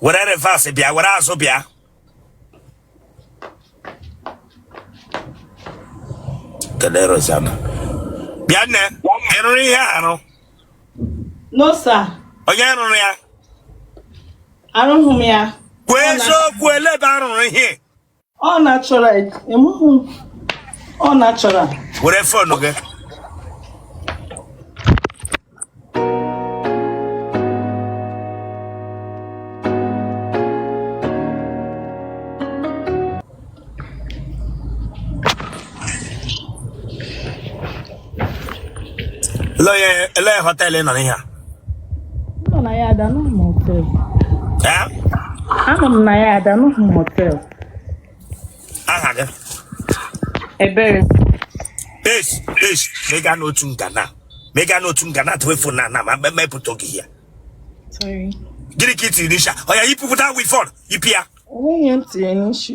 were reverse bịa were azụ bịa kedu rozana bịa nne ị rụrụ ihe a arụ no sir onye rụrụ ya arụghị m ya kwuo eziokwu elee ebe a rụrụ ihe ọ na-achọrọ emuhu ọ na-achọrọ were fon gị Ele họteelụ nọ n'ihe a? Nọ na ya ada n'ụmụ họteelụ. Anọ m na ya ada n'ụmụ họteelụ. Aha gị? Ebere. Esh, esh, mega n'otu ngana. Mega n'otu ngana tuwefu na na ma mepụta oge ya. Sorry. Gịnị ka ị tiri n'isi a? Oya yipụta weavon, yipụ ya. Onye ntị n'isi.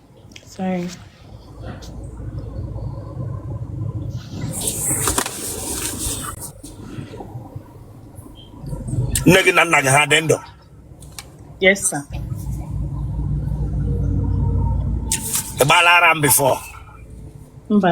Sorry. nne gị na nna gị ha dị ndụ Yes, sir. ị gbaala ara before Mba.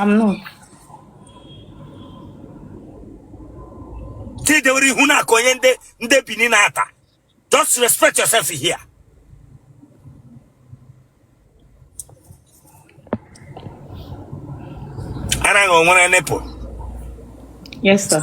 amnụ tidewere ihu na-akụ onye ndị ndị bini na-ata just respect yourself here ara gị o nwere nipple yes sir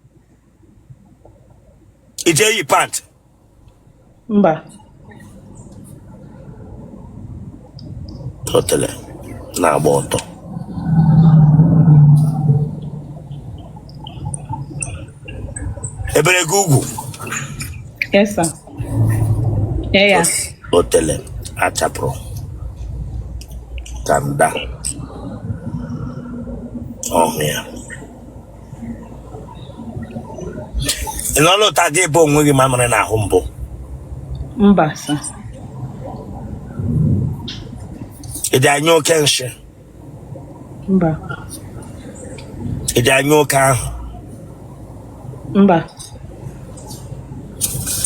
i je eyi pant mba otele na-agba ọtọ e bere gị ugwu yes sir yeah, yeah. otele a chapụrụ kanda ọhụ ya ị nọ n'ụta gị ebe onwe gị mamịrị n'ahụ mbụ mba sa i je anyụ oke nshị mba i je anyụ oke ahụ mba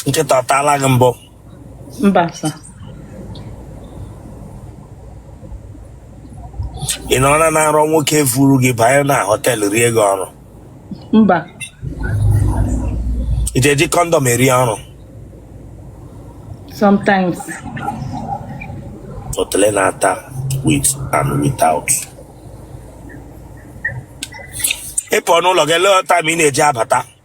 nkịta ọ taala gị mbụ mba sa ị nọrọ na arọ nwoke evuru gị banye na họteelụ rie gị ọrụ mba ị ga-eji kọndọm eri ọrụ sometimes otele na-ata with and without ịpụ n'ụlọ gị lee ọta ma ị na-eji abata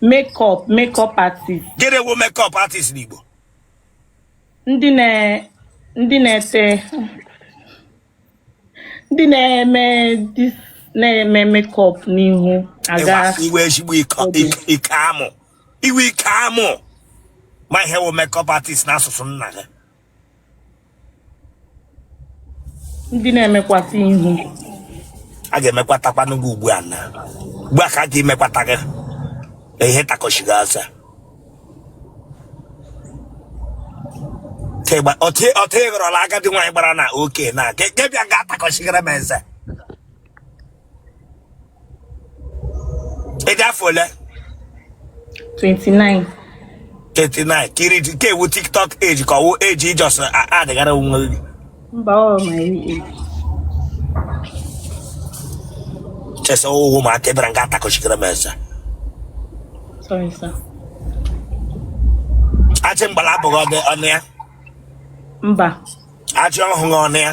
makeup makeup artist gịnị wụ makeup artist n'Igbo ndị na ndị na-ete ndị na-eme dis na-eme makeup n'ihu aga Ịwa- iwe ezigbo ike ike- ike amụ iwe ike amụ ma ihe wụ makeup artist n'asụsụ nna gị ndị na-emekwata ihu a ga-emekwatakwanụ gị ugbu a na ugbu a ka a ga-emekwata gị na ihe takọchighị asa ọtụ ị ghọrọla agadi nwaanyị gbara na oke na nke bịa ga-atakọchigara m eze ị dị afọ ole 29 39 kiri nke ọ wụ tiktok age ka ọ wụ age ijọs adịghara onwe gị mba ọ ma eri eri chesa owu ma aka ebere nga atakọchikere m eze sorry sir achị mgbala abụghị ọdị ọnụ ya mba achị ọhụghị ọnụ ya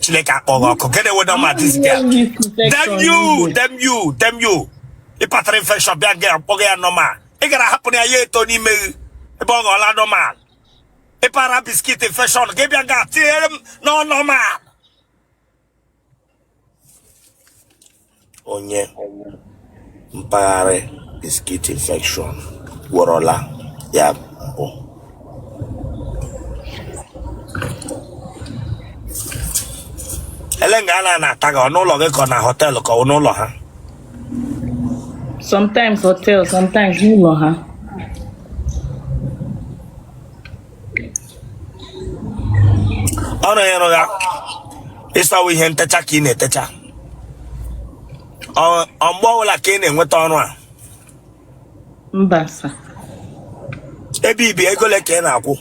chineke kpọọ gị ọkụ gịnị weda ma dịzi ya damn you damn you damn you ị patara infection bịa ga-akpọ ya normal ị gara hapụ ya ya eto n'ime gị ebe ọ ghọọla normal ị para biscuit infection gị bịa ga tinyere m na ọ normal onye mpaghara biscuit infection gwọrọla ya mbụ elee nga a na-ata gị ọ n'ụlọ gị ka ọ na họteelụ ka ọ n'ụlọ ha sometimes hotel sometimes n'ụlọ ha ọrụ ị rụga ị sị ọ wụ ihe ntecha ka ị na-etecha ọ mgbe ọbụla ka ị na-enweta ọrụ a mba sa ebe i bi ego ole ka ị na-akwụ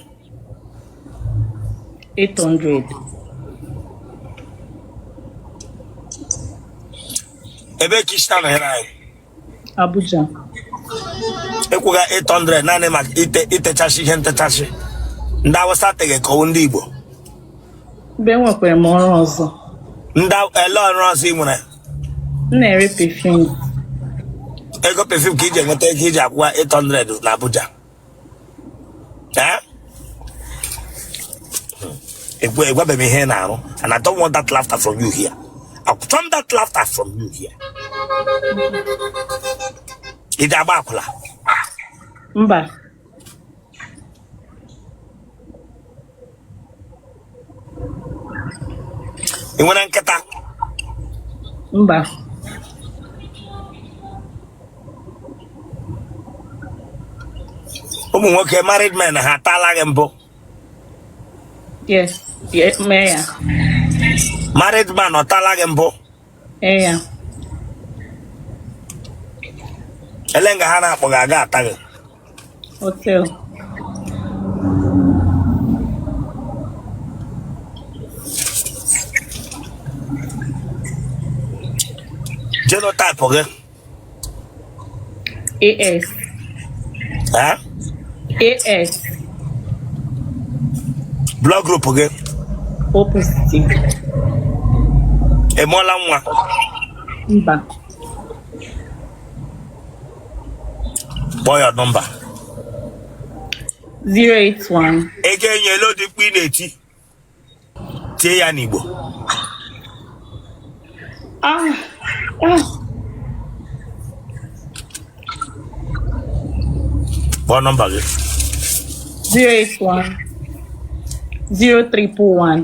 800 ebee ka i si anọnyere anyị Abuja ị kwụga 800 naanị maka ite itechasị ihe ntechasị ndị awụsa tega ka ọ wụ ndị igbo mgbe enwekwara m ọrụ ọzọ ndị Aw- elee ọrụ ọzọ ị nwere m na-ere perfume ego perfume ka i ji enweta ego i ji akwụwa 800 na abuja ị gwabeghị m ihe ị na-arụ and I don't want that laughter from you here I want that laughter from you here ị ga-agba akwụla mba ị nwere nkịta mba ụmụ nwoke married men ha ataala gị mbụ yes yes mee ya married man ọ taala gị mbụ ee ya elee nga ha na-akpọ gị aga ata gị Hotel. Genotype gị? AS. Ha? AS. Blood group gị? O positive. Ị mụọla nwa? Mba. kpọọ ya nọmba 081 okay elee ụdị mkpu ị na-eti tie ya n'igbo ah ah kpọọ nọmba gị 081 0341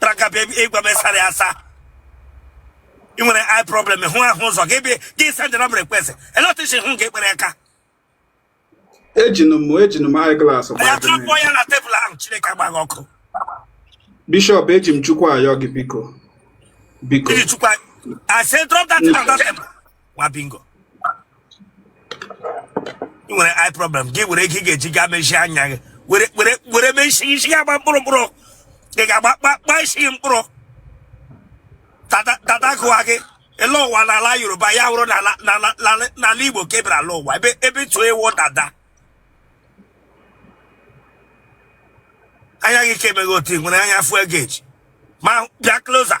traka bịa ị gwa m ị sara ya asa ị nwere eye problem hụ ahụ ụzọ gị bịa gị send na mere kwesị eletrishin hụ gị kpere aka ejinu m ejinu m eye glass ya drọpụ ya na tebụl ahụ chineke gbaa gị ọkụ bishọp eji m chukwu ayọ gị biko biko I said drop that thing on that table. nwa bingo ị nwere eye problem gị were ego ị ga-eji gaa mezie anya gị were were were mezie isi gị agba mkpụrụ mkpụrụ ị ga-agba kpa kpa isi gị mkpụrụ dada dada gụwa gị ele ụwa n'ala yoruba ya wụrụ n'ala n'ala n'ala- n'ala igbo ka ebere ala ụwa ebe ebe tụọ ewu dada anya gị ka emeghị otu ị nwere anya fuel gauge ma bịa closer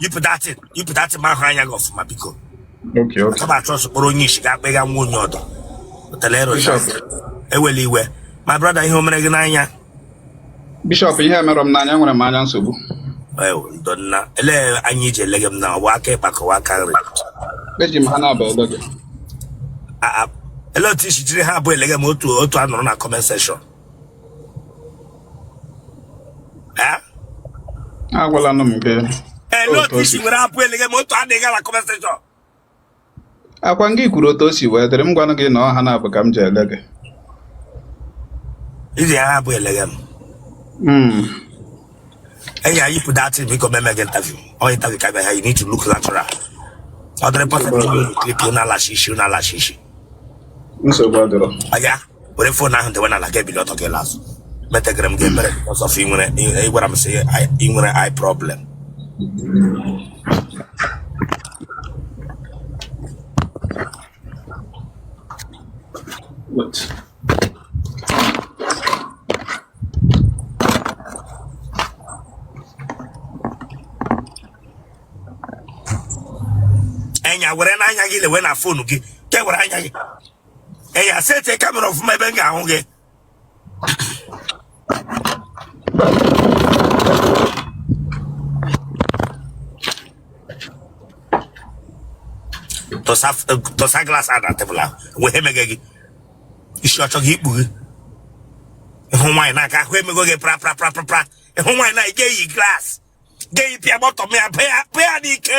yipụ datin yipụ datin ma ahụ anya gị ọfụma biko Okay, okay. akaba achọ sokporo onye isi ga akpịga nwa onye ọdọ pụtara ero Bishop. ewela iwe ma brọda ihe o mere gị n'anya Bishop, ihe emerọ m n'anya nwere m anya nsogbu. ewu ndọ nna elee anya ị ji elege m na ọ wụ aka ịkpa ka ọ wụ aka nri Eji m ha naabọ ele gị. A- a- elee otu i si jiri ha abụọ elege m otu otu a nụrụ na kọment sekshọn agwala nụ m nke ele otu isi were abụ eleghe ma otu adịghị ala comment section ọkwa gị kwuru otu o si wee dịrị m gwanụ gị na ọha na-abụ ka m ji ele gị iji ya abụ eleghe m hmm. enyi anyị pụta atị biko meme gị interview onye interview ka bịa ya you need to look natural ọ dịrị pọsịtị na-alachi isi na-alachi isi nsogbu adịrọ were fon ahụ dewe n'ala gị ebili ọtọ glas metegara m gị ebere ọzọ fụ inwere ị gwara m sị i nwere eye problem What? anya were n'anya gị lewe na fonu gị kewere anya gị ee ya seti kamera ọfụma ebe m ga-ahụ gị tọsa glas na tebụl ahụ wee ha emege gị isi ọchọ gị ikpu gị ịhụ nwaanyị n'aka ahụ emego gị pra pra pra pra pra ịhụ nwaanyị na ga-eyi glas ga-eyi pịa bọtịn ya pịa ya n'ike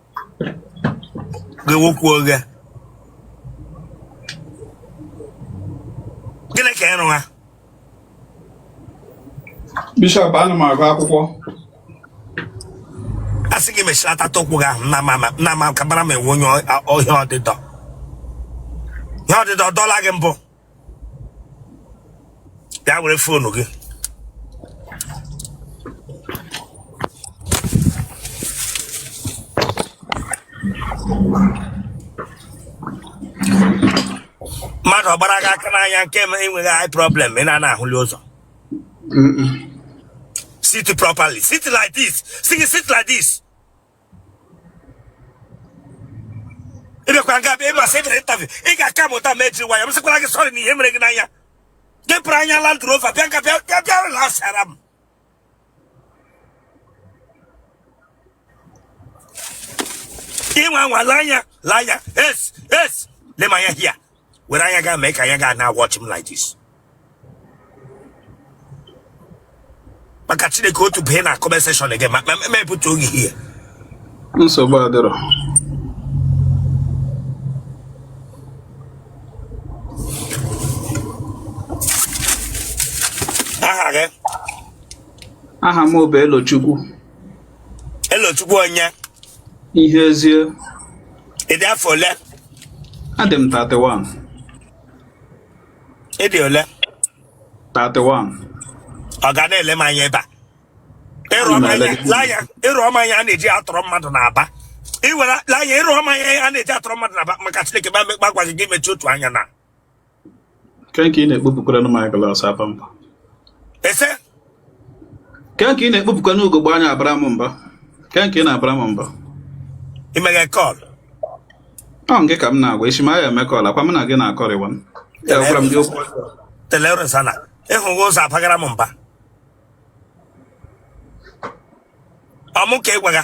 gị wokwu oghe gịnị ka ị rụgha bishọp ana m agụ akwụkwọ a sị gị mechiri apata ụkwụ gị ahụ na ma na ma kabara m enwe onye ọ- ọhịa ọdịdọ ihe ọdịdọ dọla gị mbụ ya were fonu gị mmadụ ọ gbara gị aka n'anya nke ma enweghị eye problem ị na-ana ahụli ụzọ sit properly sit like this sit, sit like this ị bịakwara nga bịa ị ma sị ị bịara interview ị ga-acalm down jiri nwayọ m sịkwara gị sọrị na ihe mere gị n'anya gị pụrụ anya Land Rover bịa nga bịa bịa bịa ụlọ asara m ịnwa anwa lee anya lee anya yes yes lee m anya here were anya gị mee ka anya gị na-awatch m like this maka chineke otu bee na comment section gị ma mepụta oge ihe nsogbu adịrọ aha gị aha m bụ elochukwu elochukwu onye ihezie ị dị afọ ole adị m 31 ị dị ole 31 ọ ga na-ele m anya ebe a ịrụ ọma anya laya ịrụ ọma anya a na-eji atọrọ mmadụ n'aba iwere laya ịrụ ọma anya a na-eji atọrọ mmadụ n'aba maka chineke ba mekpa gwa gị gị mechie otu anya na Ke nke ị na-ekpopụkwara m eyeglass aba mba. Ese. Ke nke ị na-ekpopụkwara n'ugogbe anya abara m mba. Ke nke ị na-abara m mba. Ị meghe call. Ọ nke ka m na-agwa echi ma ya eme call akwa m na gị na-akọrịwa m. Ya gwara m gị okwu. Telere sana. Ịhụghị ụzọ abagara m mba. Ọ mụ ka ị gwaga.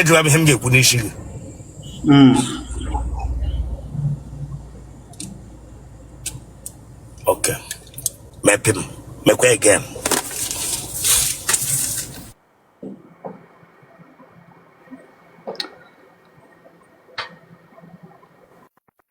ajụla m ihe m ga-ekwu n'isi gị hmm. ok mepim mekwa again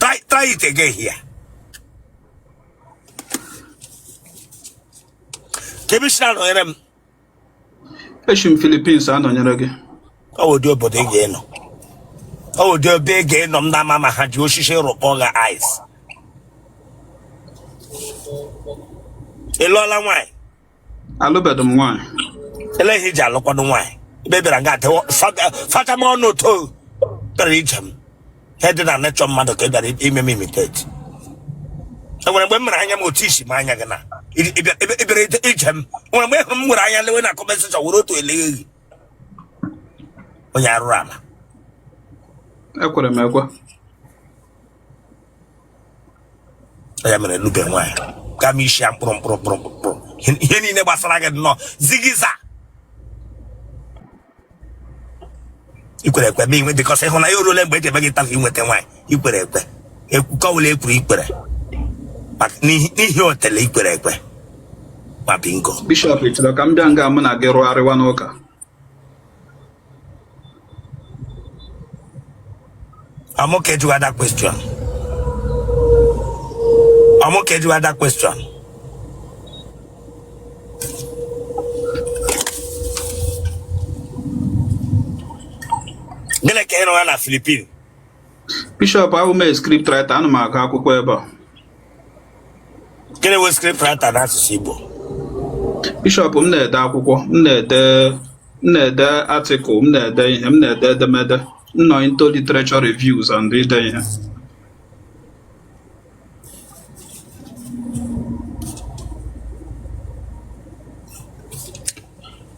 try try it again here kee ebe i si anọnyere m esi m Philippines anọnyere gị ọ bụ ụdị obodo ị ga-enọ ọ bụ ụdị ebe ị ga-enọ m na-ama ma ha ji osisi rụkpọ gị eyes ị lụọla nwaanyị alụbeghị m nwaanyị elee ihe iji alụkwanụ nwaanyị ebe ị bịara nga adịwo facha m ọnụ ụtọ bịara ije m ihe dị na nechọ mmadụ ka ị bịara ime m imitate enwere mgbe m mere anya m otu i si me anya gị na ịbịara ije m nwere mgbe ị hụrụ m were anya lewe na comment section were otu eleghe gị onye arụrụ ala ekwere m ekwe ya mere ị lụbe nwaanyị kama isi ya mkpụrụ mkpụrụ mkpụrụ mkpụrụ ihe niile gbasara gị nnọọ zigiza ikwere ekwe ma inwe dịkọsị ịhụ na ya orule mgbe eji eme gị ntafe inweta nwaanyị ikwere ekwe ekwukọwụla ekwuru ikwere n'ihi otele ikwere ekwe ma bingo bishọp ịchọrọ ka m bịa nga mụ na gị rụgharịwa n'ụka I'm okay to other question. I'm okay to other question. Gịnị ka ị rụwa na Philippines? Bishọp abụ m a script writer ana m agụ akwụkwọ ebe a gịnị bụ script writer n'asụsụ Igbo bishọp m na-ede akwụkwọ m na-ede m na-ede article m na-ede ihe m na-ede edemede m nọ into literature reviews and ide ihe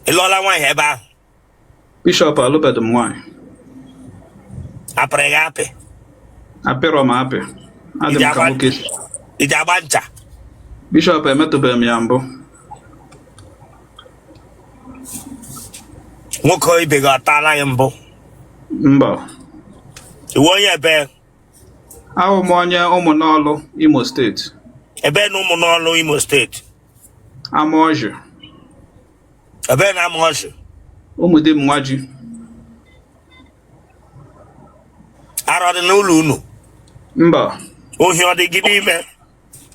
ị lụọla nwaanyị ebe ahụ Bishọp alụbeghị m nwaanyị. A pịrị gị apị? A pịrọ m apị. Adị m ka nwoke. Ị ji agba ncha? Bishọp emetụbeghị m ya mbụ. Nwoke ibe gị ọ tala gị mbụ? Mba. Ị wụ onye ebee? Awụ m onye ụmụnọlụ Imo steeti. Ebee na ụmụnọlụ Imo steeti? Amaọjị. Ebee na Amaọjị? Ụmụdị Mmaji. Ara ọ dị n'ụlọ unu? Mba. Ohi ọ dị gị n'ime?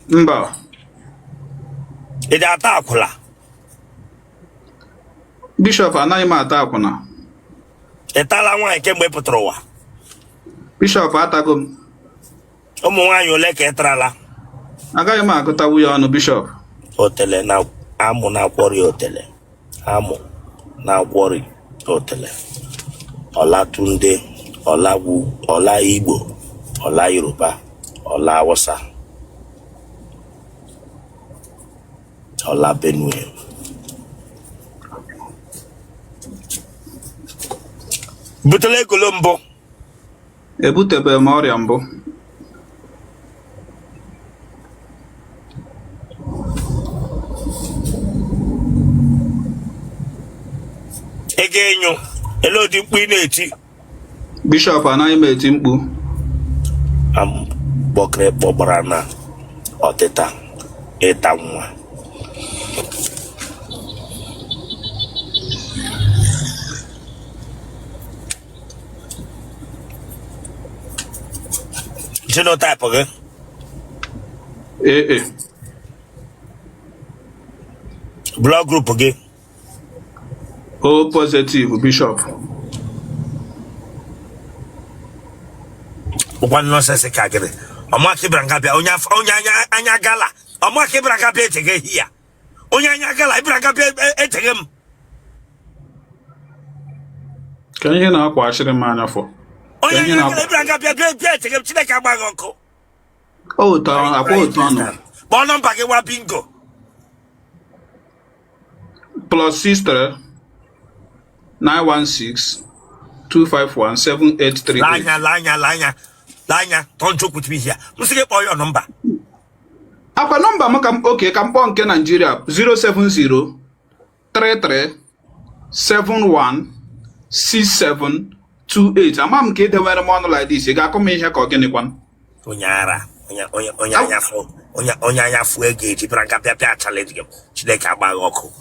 Mba. Ị ji ata akwụla? Bishọp anaghị m ata akwụna. Ị tala nwaanyị kemgbe ị pụtara ụwa? Bishọp atago m. ụmụ nwaanyị ole ka ị tarala agaghị m agụtanwu ya ọnụ bishọp otele na amụ na-akwọrị otele amụ na-akwọrị otele ọlatunde ọlagwu ọla igbo ọla yoruba ọla awụsa ọla benue i butela gono mbụ Ebutebeghị m ọrịa mbụ. ị ga-enyo elee ụdị mkpu ị na-eti Bishọp anaghị m eti mkpu. kpọkịrị kpọgbara na ọtịta ịta nwa Genotype gị? AA. Blood group gị? O positive bishop. Ọ kwa nonsense ka gịnị? Ọ mụa ka ị bịara nga bịa onye anya gala. Ọ mụa ka ị bịara nga bịa eche gị ehi ya. onye anya agala ị bịara nga bịa echeghị m ka ihe na-akwa achịrị m anya fọ onye anya agala ị bịara nga bịa bịa bịa echeghị m chineke agba gị ọkụ akwa otu ọnụ kpọọ nọmba gị gwa bingo plus 63 916 251 783 lanya lanya lanya lanya don't joke with me here m sị gị kpọọ ya nọmba ọ kwa nọmba m ka m okay ka m kpọọ nke naijiria 070 33 71 67 28 ama m ka i dewere m ọnụ like this ị ga-akụ m ihe ka ọ gịnị kwanụ onye ara onye onye onye anya fụ onye onye anya fụ ego eji bịara nga bịa bịa challenge gị chineke agba gị ọkụ